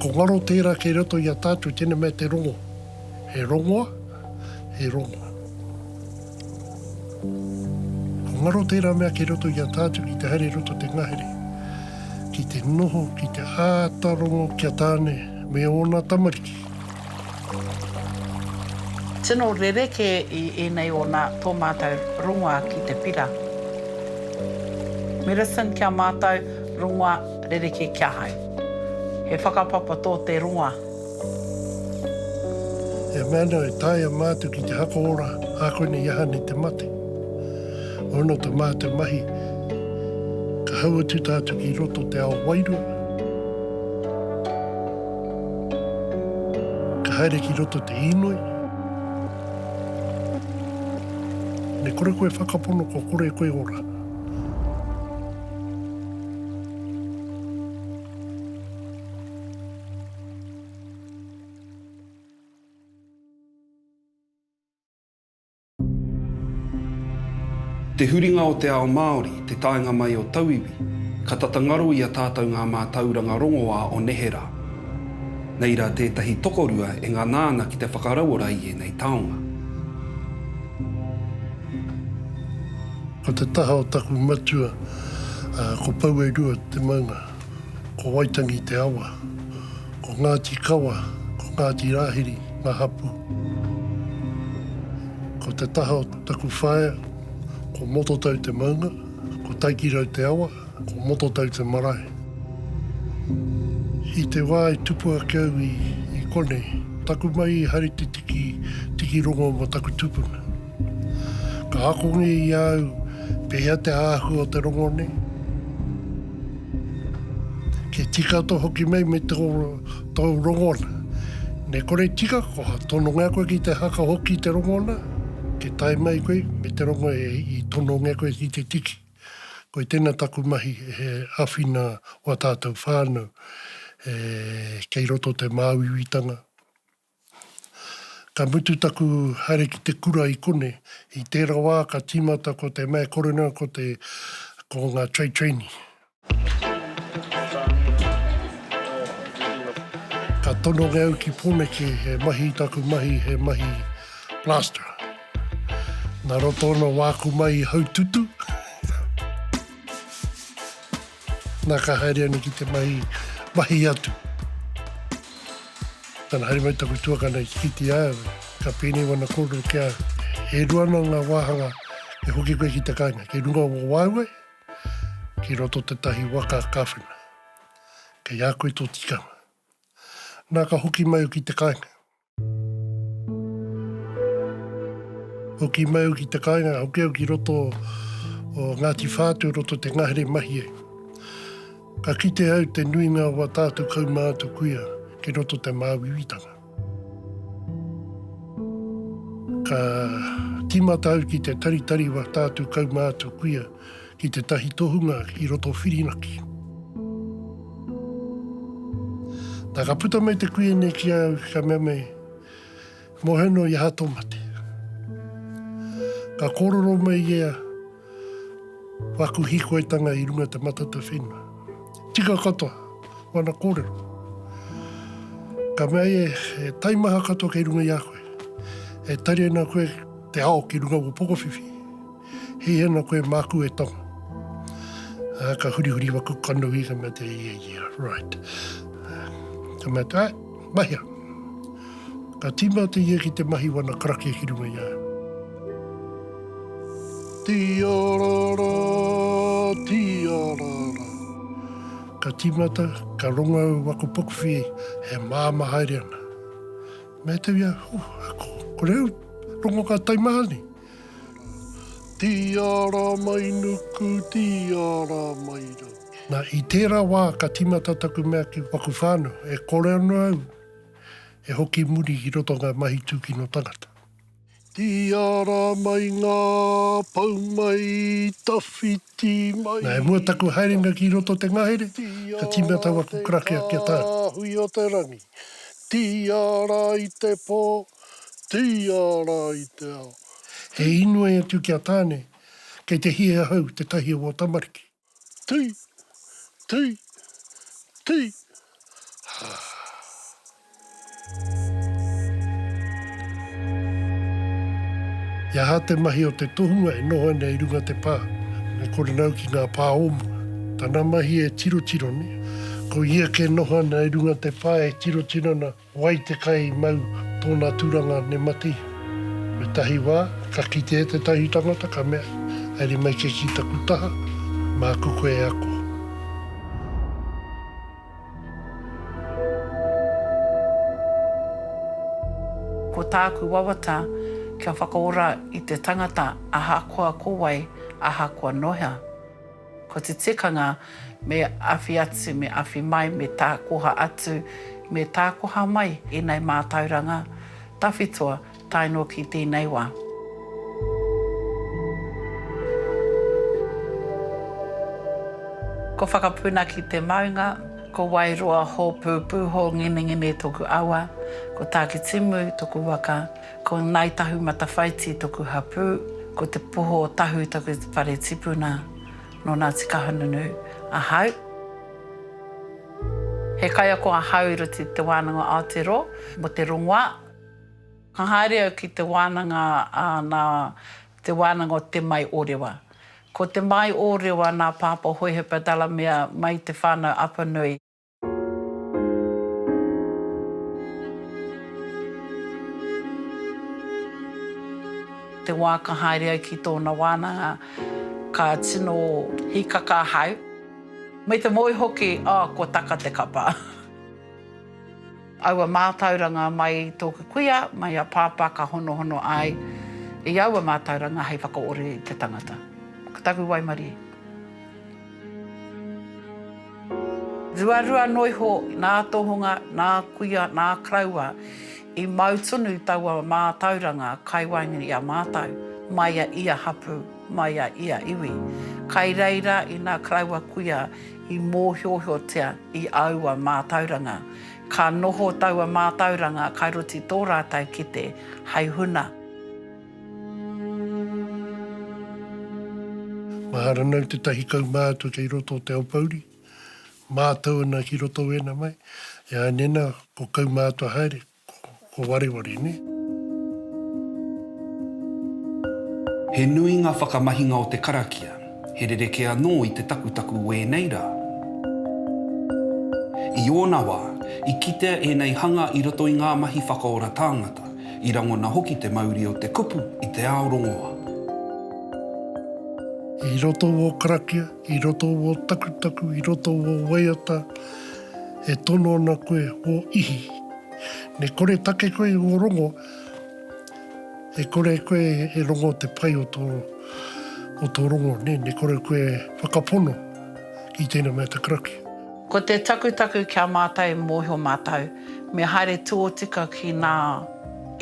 Ko ngaro tera kei roto i a tatou tena mea te rongo. He rongoa, he rongoa. Ko ngaro tera mea kei roto i a tatou ki te haere roto te ngahere, ki te noho, ki te ata rongo ki a Tane me ona tamariki. Tino rerekē i ēnei o nā tō mātou rongoā ki te pira. Medicine kia mātou, rongoā rerekē ki ahau. He whakapapa tō te rongoā. He mea nō e taea mātou ki te haka ora ā konei i aha nei te mate. Ono tā mātou mahi, ka hau atu tātou ki roto te ao wairua. Ka haere ki roto te inoi. Me kore koe whakapono kua kore koe ora. Te huringa o te ao Māori, te taenga mai o tauiwi, ka tata ngaro i a tātou ngā mātauranga rongoā o nehe rā. Nei rā tētahi tokorua e ngana ana ki te whakarauora i ēnei taonga. Ko te taha o taku matua, ko Pouerua te maunga. Ko Waitangi te awa. Ko Ngāti Kawa, ko Ngāti Rāhiri ngā hapū. Ko te taha o taku whaea, ko Mototau te maunga, ko Taikirau te awa, ko Mototau te marae. I te wā i tupu ake au i konei, taku mahi i haere te tiki, tiki rongo mō taku tupuna. Ka akongia i a au pēhea te āhua o te rongo nei. Ke tika to hoki mai me to to rongona. Ne kore tika ko ha tono nga koe ki te haka hoki te rongona, ke tai mai koe me te rongo e i tono nga koe ki te tiki. Koi tena taku mahi he awhina wa tatou whanau e kei roto te māuiuitanga. Ka mutu taku haere ki te kura i kone, i tera wa ka timata ko te Mayor Coroner ko te, ko nga Trade Trainee. Ka tononge au ki Poneke he mahi taku mahi he mahi plasterer. Na roto ona waku mai i Haututu. Na ka haere anu ki te mahi, mahi atu. Tana haere mai taku tuakana i Tikiti a au, ka pēnei wana kōrero ki a au, e rua ana nga wāhanga e hoki koe ki te kainga, kei runga o wāuai, kei roto tetahi waka kawhena. Kei a koe to tikanga. Na ka hoki mai au ki te kainga. Hoki mai au ki te kāinga, hoki au ki roto o Ngāti Whātu, roto te ngahere mahi e. Ka kite au te nuinga o a tātou kaumātua kuia ki roto te māuiuitanga. Ka tīmata au ki te taritari o a tātou kaumātua kuia ki tētahi tohunga i roto Whirinaki. Na ka puta mai te kuia nei ki a au ka mea mai, Mohe no i aha to mate? Ka kororo mai ia, Waku hikoitanga i runga te matata whenua. Tika katoa wana korero. Ka mea ia, E taimaha katoa kei runga i a koe. E tari ana koe te ao ki runga o Pokowhiwhi. Hei ana koe māku e tonga. Ā, ka hurihuri waku kanohi, ka mea te ia ia, right. Ka mea te, mahia. Ka tīmau te ia ki te mahi wana karakia ki runga i a. Tiarara, tiarara. Ka tīmata, ka rongo au waku pukuwhi e māma haere ana. Mea te ia, huh, ako, kore au, rongo ka taimaha nei. Tiara mai nuku, tiara mai rau. Na, i tera wa ka timata taku mea ki waku whānau, e kore ano au e hoki muri ki roto o nga mahi tukino tangata. Tiara mai nga pou mai, tawhiti mai. Na, e mua taku haerenga ki roto o te ngahere, ka timata waku krakea kia tau. Tiara i te hui o te rangi, tiara i te po. Tīā rā i te ao. He inoi atu ki a Tāne, Kei te hī ahau, tētahi o ō tamariki. Tī! Tī! Tī! He aha te mahi o te tohunga e noho ana i runga te pā? Me korena au ki ngā pā o mua. Tana mahi e tirotiro nei. Ko ia kē noho ana i runga te pā e tirotiro ana. Wai te kai mau tōna turanga ne mati. Me tahi wā, ka kite e tētahi tangata ka mea, Haere mai ke ki taku taha, māku koe e ako. Ko tāku wawata, kia whakaora i te tangata ahakoa ko wai, ahakoa nohea. Ko te tikanga, me awhi atu, me awhi mai, me tākoha atu, me tākoha mai ēnei mātauranga tawhitoa tae noa ki tēnei wā. Ko Whakapuna ki te maunga, ko Wairoa hōpūpū hōnginengine toku awa, ko Tākitimu toku waka, Ko Ngāi Tahu Matawhaiti toku hapū, ko Te Poho o Tahu toku whare tipuna nō Ngāti Kahungunu ahau. He kaiako ahau i roto i Te Wānanga Aotearoa mō te rongoā. Ka haere au ki te wānanga a nā Te Wānanga o Te Mai o Rewa. Ko Te Mai o Rewa nā Pāpā Hohepa Delamere mai i te whānau Apanui. Te wā ka haere au ki tōna wānanga, ka tino hīkaka ahau, me te moe hoki, oh, kua taka te kapa. Aua mātauranga mai i tōku kuia, mai a Pāpā ka honohono ai i aua mātauranga hei whakaore i te tangata. Ko taku waimarie. Ruarua anō iho nā Tohunga, nā Kuia, nā Karaua i mau tonu i taua mātauranga kai waenga i a mātou, mai a ia hapū, mai a ia iwi. Kai reira ina Karaua Kuia i mōhiohiotia i aua mātauranga, ka noho taua mātauranga kai roti tō rātou kete hai huna. Mahara nau te tahi kaumātua kei roto o Te Aopouri, mātau ana ki roto wēnā mai, e ai nēnā ko kaumātua haere, ko wareware nē. He nui ngā whakamahinga o te karakia, he rerekē anō i te takutaku wēnei rā. I ōna wā, i kitea ēnei hanga i roto i ngā mahi whakaora tāngata, I rangona hoki te mauri o te kupu i te ao rongoa. I roto o karakia, i roto o takutaku, i roto o waiata, e tono ana koe o ihi. Ne kore take koe i o rongo, e kore koe e rongo te pai o to, o to rongo, ne, ne kore koe e whakapono i tena mea te karakia. Ko te takutaku kia matai mohio matou, Me haere tōtika ki nā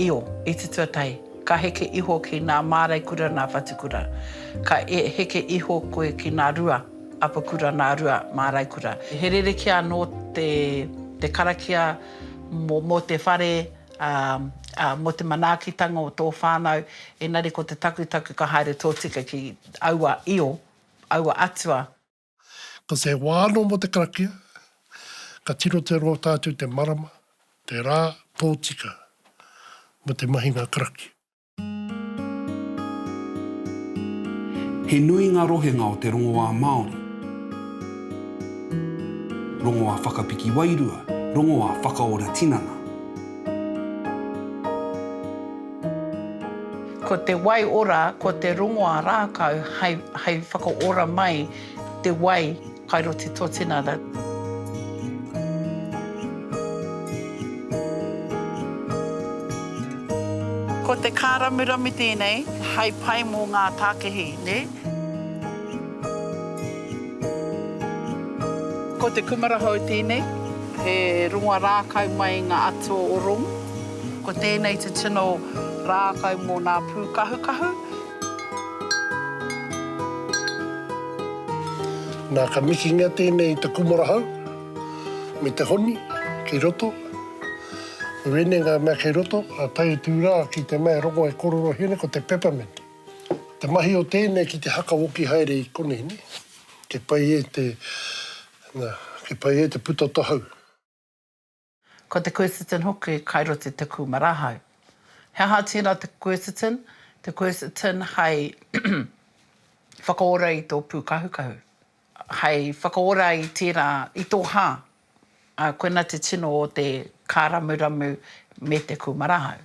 io i te tuatahi, ka heke iho ki nā māreikura nā whatukura, ka heke iho koe ki nā rua apakura nā rua māreikura. He rerekē anō te karakia mō te whare, ā, mō te manaakitanga o tō whānau, engari ko te takutaku ka haere tōtika ki aua io, aua atua. Ko te wā anō mō te karakia, ka tino te roa tātou te marama, te rā, tōtika mō te mahinga karakia. He nui ngā rohenga o te rongoā Māori, rongoā whakapiki wairua, rongoā whakaora tinana. Ko te wai ora, ko te rongoa rākau hai, hai whakaora mai te wai kai ro te totinara. Ko te kāramurami tēnei hai pai mō ngā tākehi, nē? Ko te kumara hou tēnei, he rongoa rākau mai i ngā atua o Rongu. Ko tēnei te tino rākau mō nā pūkahukahu. Nā, ka mikingia tēnei i te kumara hau me te honi kei roto. Ko wēnei ngā mea kei roto, a tae atu rā ki te mea e rongo e kororo here ko te peppermint. Te mahi o tēnei ki te hakawoki haere i konei nei, kei pai e te, nā, kei pai e te puta o te hau. Ko te quercetin hoki kai roto i te kūmara hau. He aha tērā te quercetin? Te quercetin hei whakaora i tō pūkahukahu, hei whakaora i tērā, i tō hā, ā, koina te tino o te kāramuramu me te kūmara hau.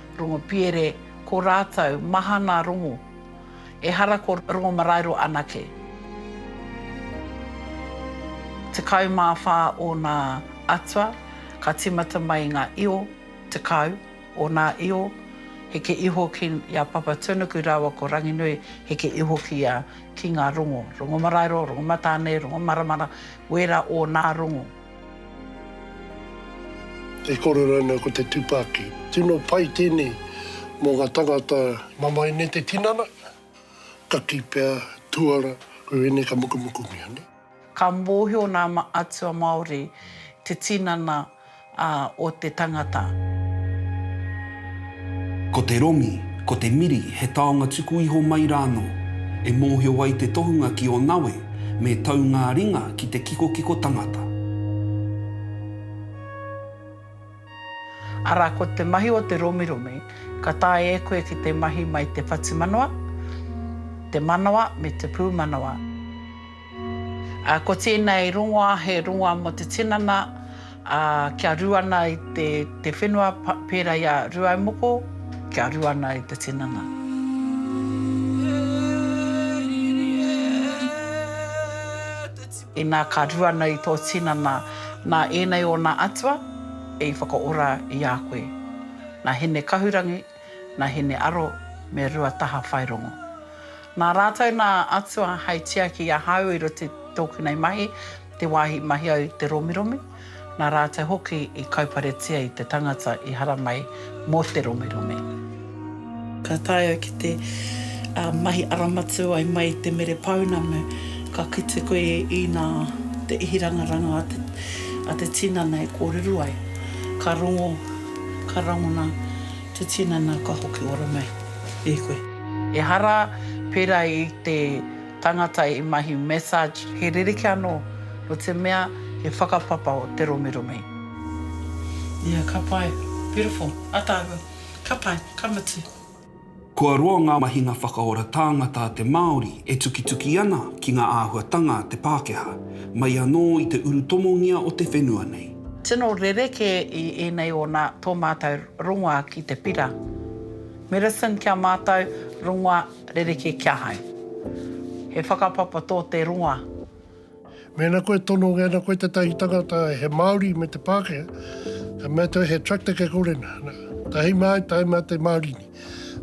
Rongopiere, Ko rātou, mahana rongo. Ehara ko Rongomaraero anake. 14 ōna atua, ka tīmata mai ngā io, 10 ōna io, heke iho ki a Papatūnuku rāua ko Ranginui, heke iho ki a, ki ngā rongo, Rongomaraero, Rongomatāne, Rongomaramara, wērā ōnā rongo. E kore rānei ko te tupaki. Tino pai tēnei mō ngā tangata. Mamae nei te tinana, kaki pea, tuara, koe ēnei ka mukumukumia, nē. Ka mōhio nā atua Māori te tinana o te tangata. Ko te rongi, ko te miri he taonga tuku iho mai rānō, e mōhio ai te tohunga ki ō nawe me tau ngā ringa ki te kikokiko tangata. Arā, ko te mahi o te romiromi, ka taea e koe ki te mahi mai te whatumanawa, te manawa me te pūmanawa. Ko tēnei rongoā he rongoā mō te tinana kia rū ana i te whenua pērā i a Rūaumoko, kia rū ana i te tinana. Inā ka rū ana i tō tinana, nā ēnei ōna atua i whakaora i a koe. Nā Hinekahurangi. nā Hine Aro me Ruataha Whairongo. Nā rātou nā atua hei tiaki i ahau i roto i tōku nei mahi, te wāhi i mahi au i te romiromi, nā rātou hoki i kauparetia i te tangata i haramai mō te romiromi. Ka tae au ki te mahi aramatu ai mai i te Mere Pounamu, ka kite koe i nā te ihirangaranga a te tinana e kōrero ai, ka rongo. Ka rangona te tinana ka hoki ora mai e koe. Ehara, pera i te tangata i mahi massage, he rerekē anō, no te mea he whakapapa o te romeromi. Ia, ka pai. Beautiful. Ataahua. Ka pai. Ka mutu. Kua roa ngā mahinga whakaora tāngata a te Māori e tukituki ana ki ngā āhuatanga a te Pākehā, mai anō i te urutomongia o te whenua nei. Tino rerekē i ēnei ōna tō mātou rongoā ki te pira. Medicine kia mātou, rongoā rerekē kia hai. He whakapapa tō te rongoā. Mēnā koe tono, mēnā koe tētahi tangata he Māori me te Pākehā, ka mea atu au he tractor kei kore nā. Nā, tā hei mea ai, tā hei mea te Māori nei.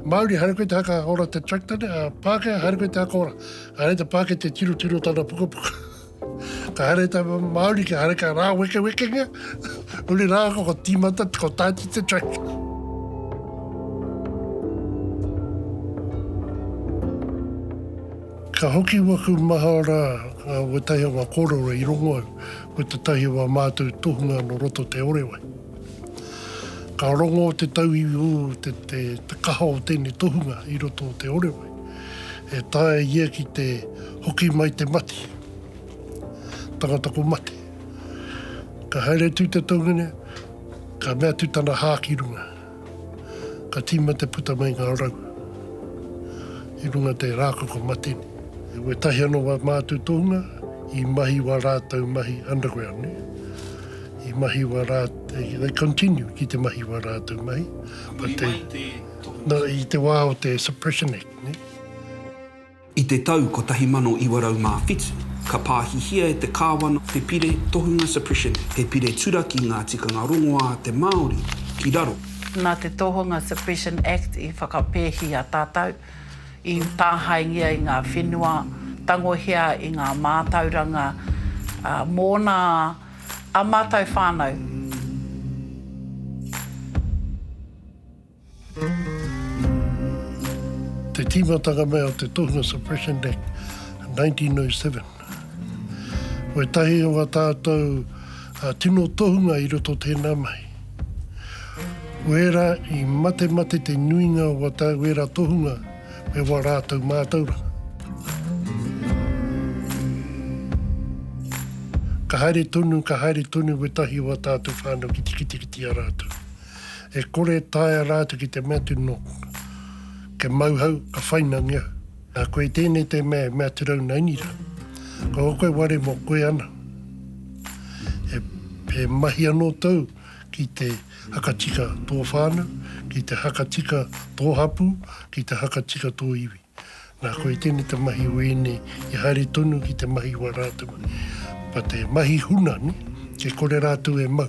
Māori, haere koe te haka ora te tractor nei, ā, Pākehā, haere koe te haka ora. Ka haere te Pākehā te tirotiro o tana pukapuka. Ka haere te Māori, ka haere ka rāwekewekengia. Huri rā, ko tīmata, ko tāti te tractor. Ka hoki waku maha ra, nga wetahi o nga korero i rongo au, ko tetahi o a matou tohunga no roto te Orewai. Ka rongo te tauiwi u te te kaha o tenei tohunga i roto o te Orewai, e taea ia ki te hoki mai te mati, tangata ko mate. Ka haere atu te toungene, ka mea atu tana ha ki runga. Ka tīma te puta mai ngā rau i runga te rākaka matene. E wetahi ano wa mātou tohunga i mahi wa rātou mahi underground ne. I mahi wa rā, they continue ki te mahi wa rātou mahi. Huri mai te tohunga. No, i te wā o te Suppression Act ne. I te tau 1907, ka pāhihia e te Kāwana te Pire Tohunga Suppression, he pire turaki ngā tikanga rongoā a te Māori ki raro. Nā te Tohunga Suppression Act i whakapēhia tātou, i tāhaengia i ngā whenua, tangohia i ngā mātauranga mōna ā mātou whānau. Te tīmatanga mai o te Tohunga Suppression Act 1907. Ko ētahi o ngā tātou uh, tino tohunga i roto tēnā mai. Wērā i mate mate te nuinga o wata wērā tohunga me wā rātou mātauranga. Ka haere tonu, ka haere tonu wētahi o wā tātou whānau ki tikitiki a rātou. E kore e taea rātou ki te mea atu nō Kia mau hau, ka whainangi au. Nā koe i tēnei te mea e mea atu rau nei ni rā. Ko ō koe ware mō koe ana. He, he mahi anō tou ki te hakatika tō whānau, ki te hakatika tō hapū, ki te hakatika tō iwi. Nā koe i tēnei te mahi o ēnei i haere tonu ki te mahi wā rātou. But he mahi huna, nē? E kore rātou e mau.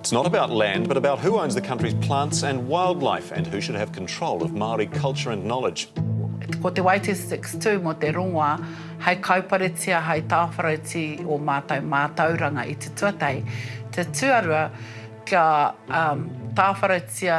It's not about land, but about who owns the country's plants and wildlife and who should have control of Māori culture and knowledge. Ko te Waites Six tū mō te rongoā hai kauparetia hai tāwharauti o mātou mātauranga i te tuatahi, te tuarua kia tāwharautia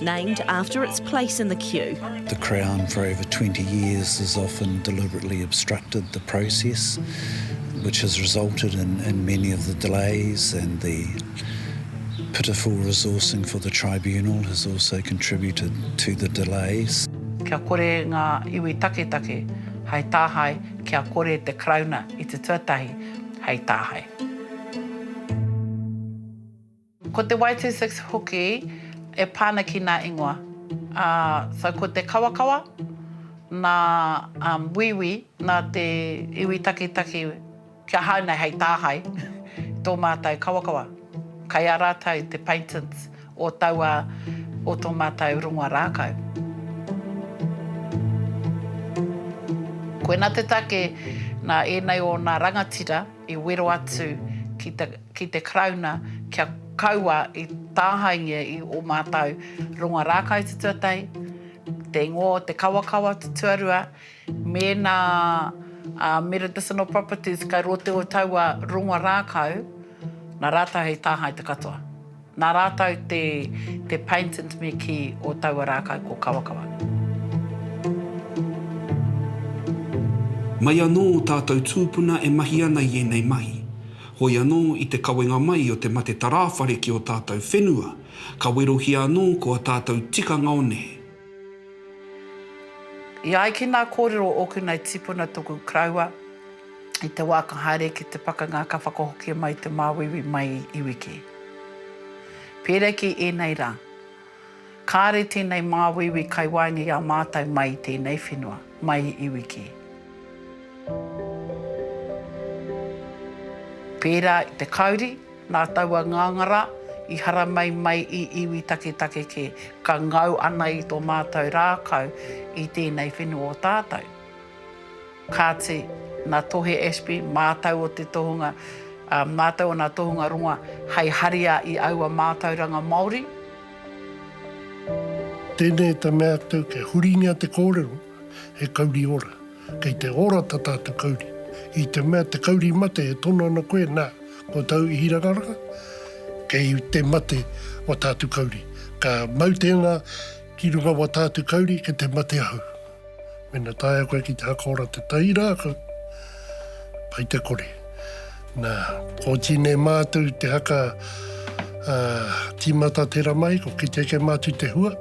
named after its place in the queue. The Crown for over 20 years has often deliberately obstructed the process, which has resulted in, in many of the delays and the pitiful resourcing for the Tribunal has also contributed to the delays. Kia kore ngā iwi taketake hai tāhae, kia kore te Karauna i te tuatahi hei tāhae. Ko te Y26 hoki e pā ana ki nā ingoa. So ko te kawakawa, nā Wīwī, nā te iwi takitaki kia hao nei hei tāhae i tō mātou kawakawa. Kai a rātou te patents o taua, o tō mātou rongoa rākau. Koina te take nā ēnei o nā rangatira. i wero atu ki te Karauna kia kaua i tāhaengia i ō mātau ronga rākau tutuatei, te ingoa o te kawakawa tutuarua, mēnā a Medicinal Properties kei roto o taua ronga rākau, nā rātau hei tāhae te katoa. Nā rātou te te paintant me kī o taua rākau ko Kawakawa. Mai anō ō tātou tūpuna e mahi ana i ēnei mahi. Hoi anō, i te kawenga mai o te mate tarāwhare ki ō tātou whenua, ka werohia anō ko ā tātou tikanga o nehe. E ai ki nā kōrero o ōku nei tipuna toku kraua, I te wā ka haere ki te pakanga ka whakahokia mai te māuiui mai i iwi kē. Pērā ki ēnei rā, kāre tēnei māuiui kai waenga i a mātou mai i tēnei whenua, mai i iwi kē. Pērā i te kauri, nā taua ngāngara i haramai mai i iwi taketake kē, ka ngau ana i tō mātou rākau i tēnei whenua o tātou. Kāti, nā Tohe Ashby, mātau o te tohunga, ā, mātau o nā tohunga rongoa hei haria i aua mātauranga Māori. Tēnei te mea atu, kia huringia te kōrero, he kauri ora. Kei te ora ta tātou kauri. I te mea te kauri mate e tono ana koe, nā, ko tāu ihirangaranga, kei te mate wa tātou kauri. Ka mau tēnā ki runga wa tātou kauri, kei te mate ahau. Mena taea koe ki te haka ora te tai rākau, pai te kore. Na, ko Tine mātou te haka uh, timata te ramai, ko ki teke mātou te hua.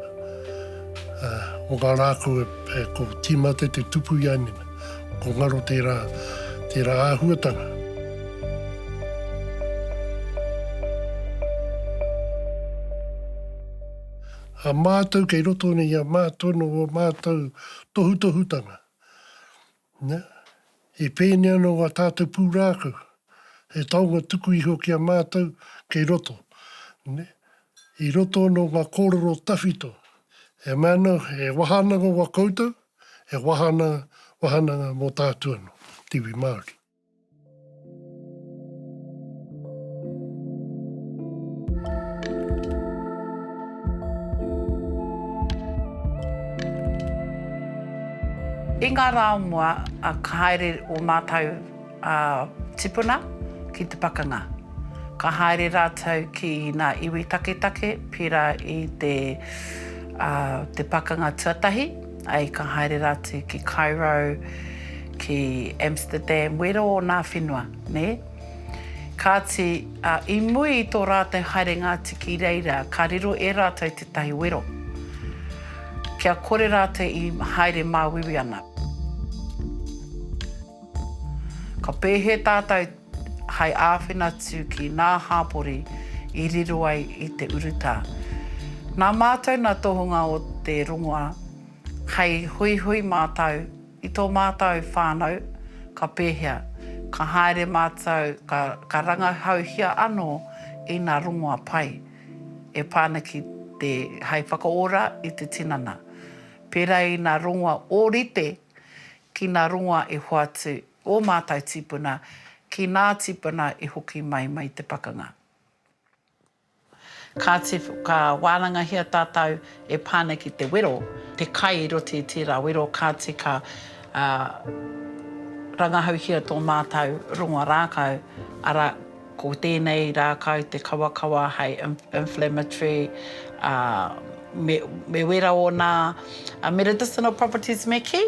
Uh, o ngā rākau e, e, ko timate te tupu i ainena. Ko ngaro tērā, tērā āhuatanga. A mātou kei roto nei i a mātou nō ō mātou tohutohutanga. Na, i pēnei anō ngā tātou pūrākau, he taonga tuku iho ki a mātou kei roto. Na, i roto anō ngā kōrero tawhito, e mea ana, he wāhanganga wā koutou, he wāhanganga mō tātou anō, te iwi Māori. I ngā rā o mua, ka haere ō mātou tipuna ki te pakanga. Ka haere rātou ki ngā iwi taketake, pērā i te pakanga tuatahi, Ai ka haere rātou ki Cairo, ki Amsterdam, wero ōnā whenua, nē? Kāti, i mui i tō rātou haerenga atu ki reira, ka riro e rātou tētahi wero, kia kore rātou i haere māuiui ana. Ka pēhea tātou? hai āwhina atu ki ngā hāpori i riro ai i te urutā. Nā mātou nā tohunga o te rongoā hei huihui mātou i tō mātou whānau ka pēhea, ka haere mātou ka rangahauhia anō i ngā rongoā pai e pā ana ki te hai whakaora i te tinana, pērā i ngā rongoā ōrite ki ngā rongoā e hoatu ō mātou tīpuna ki nā tīpuna i hoki mai mai te pakanga. Kāti ka wānangahia tātou e pā nei ki te wero, te kai i roti i tērā wero kāti ka rangahauhia tō mātou rongoa rākau, arā, ko tēnei rākau te kawakawa hei inflammatory, me wera ōna medicinal properties me kī,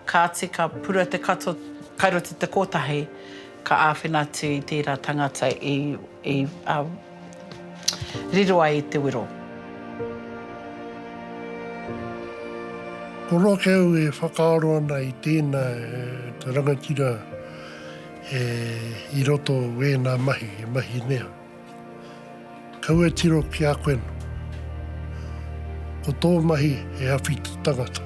Kāti ka pura te kato kai roto te kōtahi, ka āwhina atu i tērā tangata i riro ai i te wero. Ko Rokeu e whakaaro ana i tēnā rangatira i roto o ēnā mahi, he mahi nea. Kau e tiro ki a koe no. Ko tō mahi he awhiti tangata.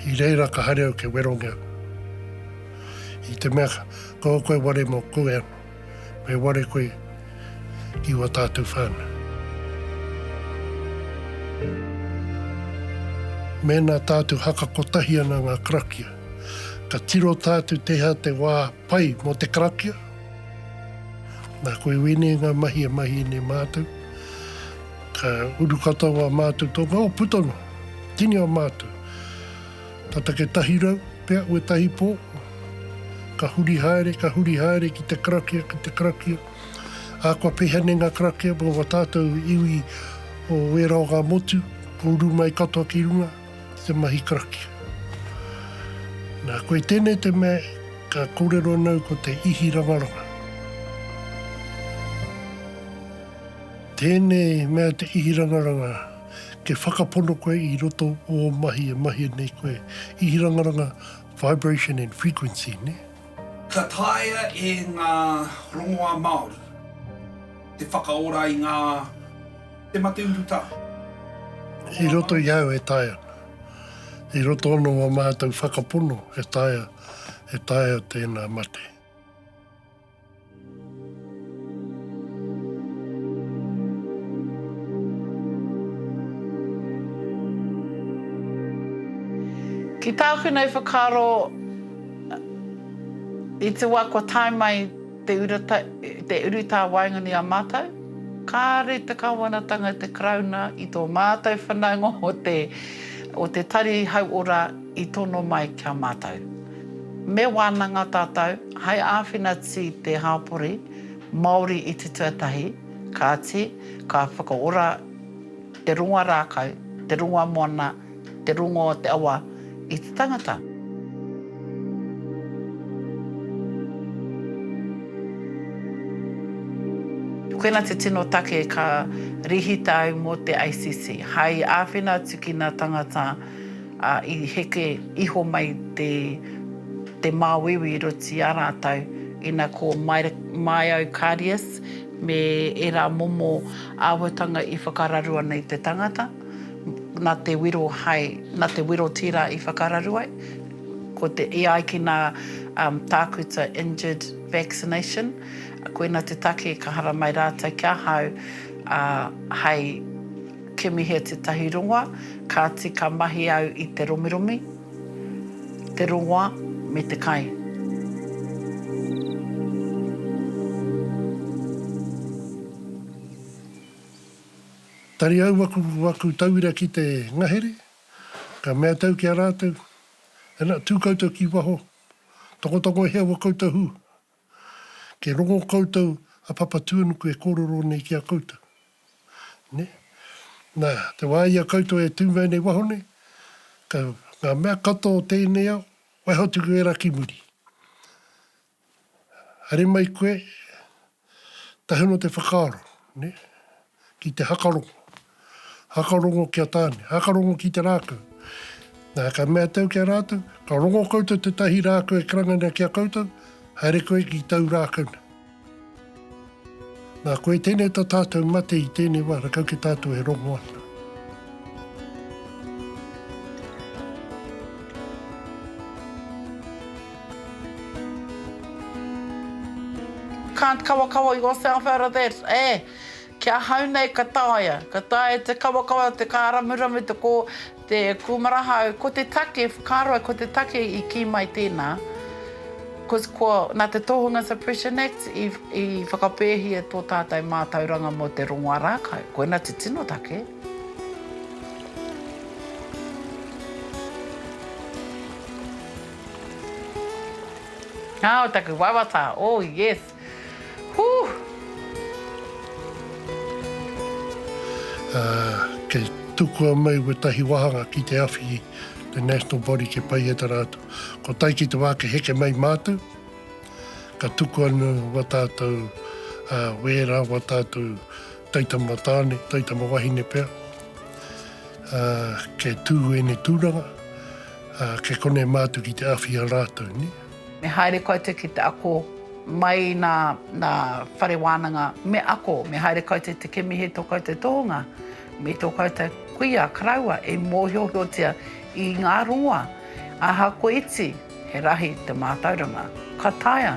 I reira ka haere au ke werongia koe. I te mea kaua koe ware mo koe ano, me ware koe ki ua tātou whānau. Mēnā tātou haka kotahi ana ngā karakia, ka tiro tātou tēhea te wā pai mo te karakia, Na koe wene nga mahi e mahi ne matou. Ka uru katoa wa matou to nga, o puta no, tini o matou. Ta take tahi rau, pea ue tahi po, ka huri haere, ka huri haere ki te karakia, ki te karakia. A kua pehea ne nga karakia mo wa tatou iwi o wera o nga motu, ko uru mai katoa ki runga. te mahi karakia. Na, koe tēnei te mea ka kōrero nau ko te ihi rangaranga. Tēnei mea te ihi rangaranga, ke whakapono koe i roto o mahi e mahia nei koe. Ihi rangaranga, vibration and frequency, ne? Ka taea e ngā rongoā Māori te whakaora i ngā. Te mate urutā. I roto i au e taea. I roto ono o mātou whakapono e taea, e taea tēnā mate. Ki tāku nei whakaaro, i te wā kua tae mai. Te urata, te urutā waenganui a mātou, kāore te Kāwanatanga i te Karauna, i tō mātou whanaunga o te, o te Tari Hauora i tono mai ki a mātou. Me wānanga tātou hai āwhina tī te hāpori Māori i te tuatahi, kāti, ka whakaora te ronga rākau, te ronga moana, Te rongo o te awa i te tangata. Koina te tino take ka rihita ai mo te ACC, hai awhina atu ki na tangata i heke iho mai te te māuiui i roto i a rātou ina ko Myokarius me era momo awatanga i whakararu ana i te tangata. nā te wiro hai, nā te wiro tira i whakararu ai, ko te, i ai ki nā tākuta injured vaccination, koina te take ka haramai rātou ki ahau hai kimihia tētahi rongoa, kāti ka mahi au i te romiromi, te rongoa me te kai. Tari au aku aku tauira ki te ngahere, ka mea tau ki a ratou, Ana, tu koutou ki waho, tokotoko e hea ua koutou hu, ke rongo koutou a Papatuanuku e korero nei ki a koutou. Ne? Na, te wa i a koutou e tu mai nei waho nei, ka nga mea katoa o tenei ao, waiho atu ki wera ki muri. Haere mai koe, tahi noa te whakaaro, ne, ki te hakarongo. Hakarongo ki a Tāne, hakarongo ki te rākau. Na, ka mea tau ki a rātou, ka rongo koutou tētahi rākau e karanga ana ki a koutou, haere koe ki tau rākau nei. Nā, koe tēnei tā tātou mate i tēnei wā, rakau ki tātou e rongo ana. Can't kawakawa yourself out of that, eh! Ki ahau nei ka taea, ka taea te kawakawa, te kāramuramu, te kō, Te kūmara hau, ko te take, whakaroa ko te take i kī mai tēnā, ko, nā te Tohunga Suppression Act i whakapēhia tō tātou mātauranga mō te rongoā rākau. Koina te tino take. Ā, o taku wawata, oh yes! Kei tukua mai wetahi wahanga ki te awhi te national body ke pai e ta ratou. Ko tai ki te wa ke heke mai matou, ka tuku anu wa tatou wera, wa tatou taitama tane, taitama wahine pea, ke tu ene turanga, ke kone matu ki te awhi a ratou. Me haere koutou ki te ako mai nā, nā Whare Wānanga, me ako, me haere koutou te kemihe tō koutou tohunga, me tō koutou kuia karaua e mōhiohiotia i ngā rongoa. Ahakoa iti, he rahi te mātauranga. Ka taea.